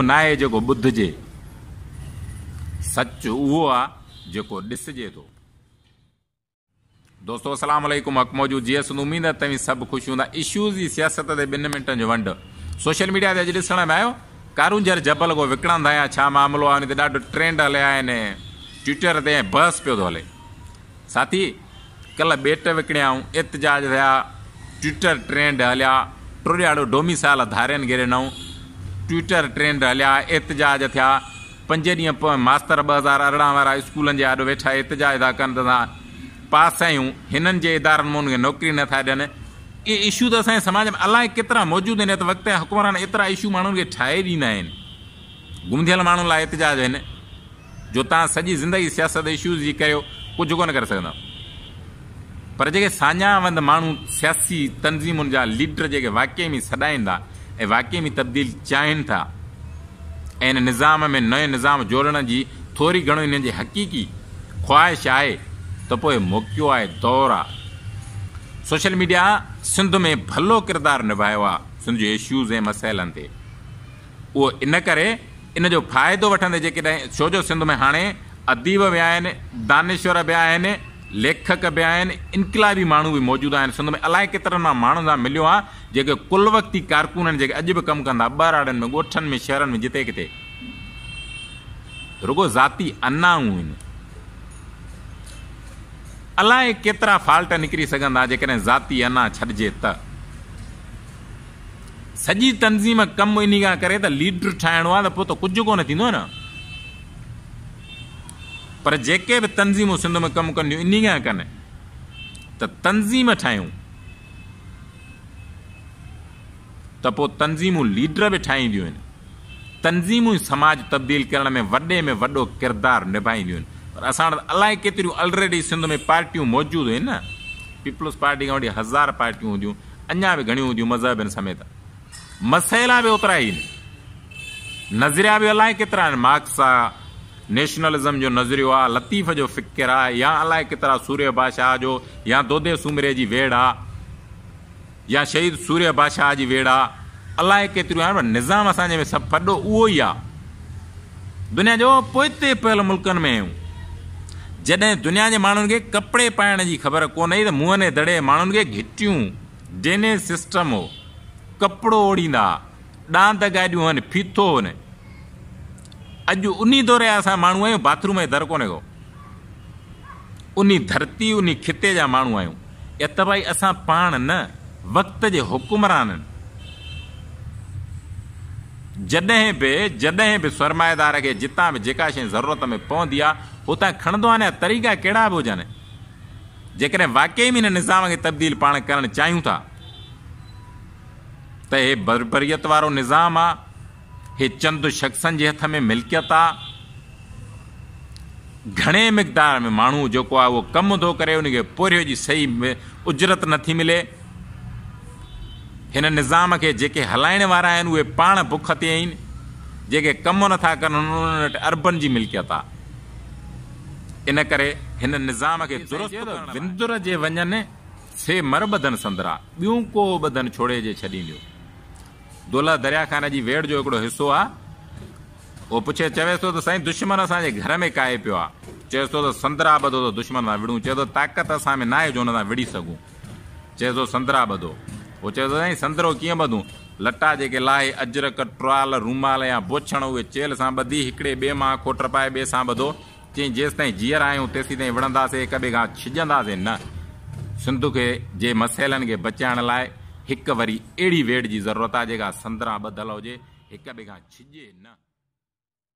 اهو ناهي جيڪو ٻڌجي، سچ اهو آ جيڪو ڏسجي ٿو. دوستو السلام عليڪم حق موجود جي سنڌ اميد آهي توهين سڀ خوش هوندا اشوز جي سياست تي ٻن منٽن جو ونڊ سوشل ميڊيا تي اڄ ڏسڻ ۾ آيو ڪارونجهر جبل ڪو وڪڻن ٿا يا ڇا معاملو آهي ان تي ڏاڍو ٽرينڊ هليا آهن ٽوئيٽر تي ۽ بحث پيو ٿو هلي ساٿي ڪلهه ٻيٽ وڪڻيائون، احتجاج ٿيا، ٽوئيٽر ٽرينڊ هليا، ٽوڙياڙو ڊوميسائيل ڌارين گهيري نئون ٽوئيٽر ٽرينڊ هليا، احتجاج ٿيا، پنج ڏينهن پوئين ماستر ٻه هزار ارڙهن وارا اسڪولن جي آڏو ويٺا احتجاج ٿا ڪن ته اسان پاس آهيون، هنن جي ادارن مون کي نوڪري نه ٿا ڏين، اهي اشو ته اسان جي سماج ۾ الائي ڪيترا موجود آهن ات وقت جا حڪمران ايترا اشو ماڻهن کي ٺاهي ڏيندا آهن، گم ٿيل ماڻهن لاء احتجاج آهن. جو توهان سڄي زندگي سياست اشوز جي ڪريو ڪجهه ڪونه ڪري سگهندا پر جيڪي ساڃاهه وند ماڻهو سياسي تنظيمن جا ليڊر جيڪي واقعي ۾ سڏائيندا ۽ واقعي ۾ تبديل چاهين ٿا ۽ ان نظام ۾ نئون نظام جوڙڻ جي ٿوري گهڻو انهن جي حقيقي خواهش آهي ته پوء موقعو آهي دور آهي سوشل ميڊيا سنڌ ۾ ڀلو ڪردار نڀايو آهي سنڌ جي اشوز ۽ مسئلن تي اهو ان ڪري ان جو فائدو وٺندي جيڪڏهن ڇو جو سنڌ ۾ هاڻي اديب به آهن، دانشور به آهن، ليکڪ به آهن، انقلابي ماڻهو به موجود آهن، سنڌ ۾ الائي ڪيترن مان ماڻهن سان مليو آهيان جيڪي ڪل وقتي ڪارڪن آهن جيڪي اڄ به ڪم ڪن ٿا ٻهراڙين ۾ ڳوٺن ۾ شهرن ۾ جتي ڪٿي رڳو ذاتي انائون آهن الائي ڪيترا فالٽ نڪري سگهن ٿا جيڪڏهن ذاتي انا ڇڏجي ته. سڄي تنظيم ڪم انهي کان ڪري ته ليڊر ٺاهڻو آهي ته پوء ته ڪجهه ڪونه ٿيندو نه پر جيڪي به تنظيمون سنڌ ۾ ڪم ڪنديون انهي کان ڪن ته تنظيم ٺاهيون ته پوء تنظيمون ليڊر به ٺاهينديون آهن تنظيمون ئي سماج تبديل ڪرڻ ۾ وڏي ۾ وڏو ڪردار نڀائينديون آهن پر اسان وٽ الائي ڪيتريون الريڊي سنڌ ۾ پارٽيون موجود آهن نه پيپلز پارٽي کان وٺي هزار پارٽيون هونديون اڃا به گهڻيون هونديون مذهبين سميت مسئلا به اوترا ئي آهن نظريا به الائي ڪيترا آهن مارڪس آ نيشنلزم جو نظريو آ لطيف جو فڪر آ يا الائي ڪيترا سوريه بادشاهه جو يا دودي سومري جي ويڙ آ يا شهيد سوريه بادشاهه جي ويڙ آ الائي ڪيتريون آهن پر نظام اسان جي ۾ سڀ پڏو اهو ئي آ دنيا جو پوئتي پيل ملڪن ۾ هيون. جڏهن دنيا جي ماڻهن کي ڪپڙي پائڻ جي خبر ڪونه هئي ته مونهني دڙي ماڻهن کي گهٽيون، ڊرينيج سسٽم هو، ڪپڙو اوڙهيندا ها، ڏاند گاڏيون هن، ڦيٿو هن. اڄ انهي دور جا اسان ماڻهو آهيون، باٿروم جي در ڪونه ڪو. انهي ڌرتي، انهي خطي جا ماڻهو آهيون. اتباعي اسان پاڻ نه، وقت جي حڪمرانن. جڏهن به جڏهن به سرمائيدار کي جتان به جيڪا شيء ضرورت ۾ پوندي آ، اتان کڻندو آ نه يا طريقا ڪهڙا به هجن، جيڪڏهن واقعي ۾ هن نظام کي تبديل پاڻ ڪرڻ چاهيون ٿا ته هي بربريت وارو نظام آ، هي چند شخصن جي هٿ ۾ ملڪيت آ، گهڻي مقدار ۾ ماڻهو جيڪو آ اهو ڪم ٿو ڪري، ان کي پورهيو جي صحيح اجرت نٿي ملي، هن نظام کي جيڪي هلائڻ وارا آهن اهي پاڻ بک تي آهن، جيڪي ڪم نٿا ڪن انهن وٽ اربن جي ملڪيت آهي. ان ڪري هن نظام کي درست ڪرڻ لاء وندر جي وڃن سي مر ٻڌن سندرا ٻيون ڪو ٻڌن ڇوڙي جي ڇڏينديو. دولهه دريا خان جي ويڙهه جو هڪڙو حصو آهي. اهو پڇي چويس ٿو ته سائين دشمن اسان جي گهر ۾ ڪاهي پيو آهي. چويس ٿو ته سندرا ٻڌو ته دشمن سان وڙهون. چئي ٿو طاقت اسان ۾ ناهي جو ان سان وڙهي سگهون. چيس ٿو سندرا ٻڌو. هو چوي ٿو سائين سندرو ڪيئن ٻڌون؟ لٽا جيڪي لاهي، اجرڪ، ٽرال، رومال يا بوڇڻ اهي چيلهه سان ٻڌي هڪڙي ٻئي مان اکو ٽپائي ٻئي سان ٻڌو. چيائين جيستائين جيئرا آهيون تيسيتائين وڙهنداسين هڪ ٻئي کان ڇڄنداسين نه. سنڌ کي جي مسئلن کي بچائڻ لاء هڪ وري اهڙي ويڙهه جي ضرورت آهي جيڪا سندرا ٻڌل هجي هڪ ٻئي کان ڇڄي نه.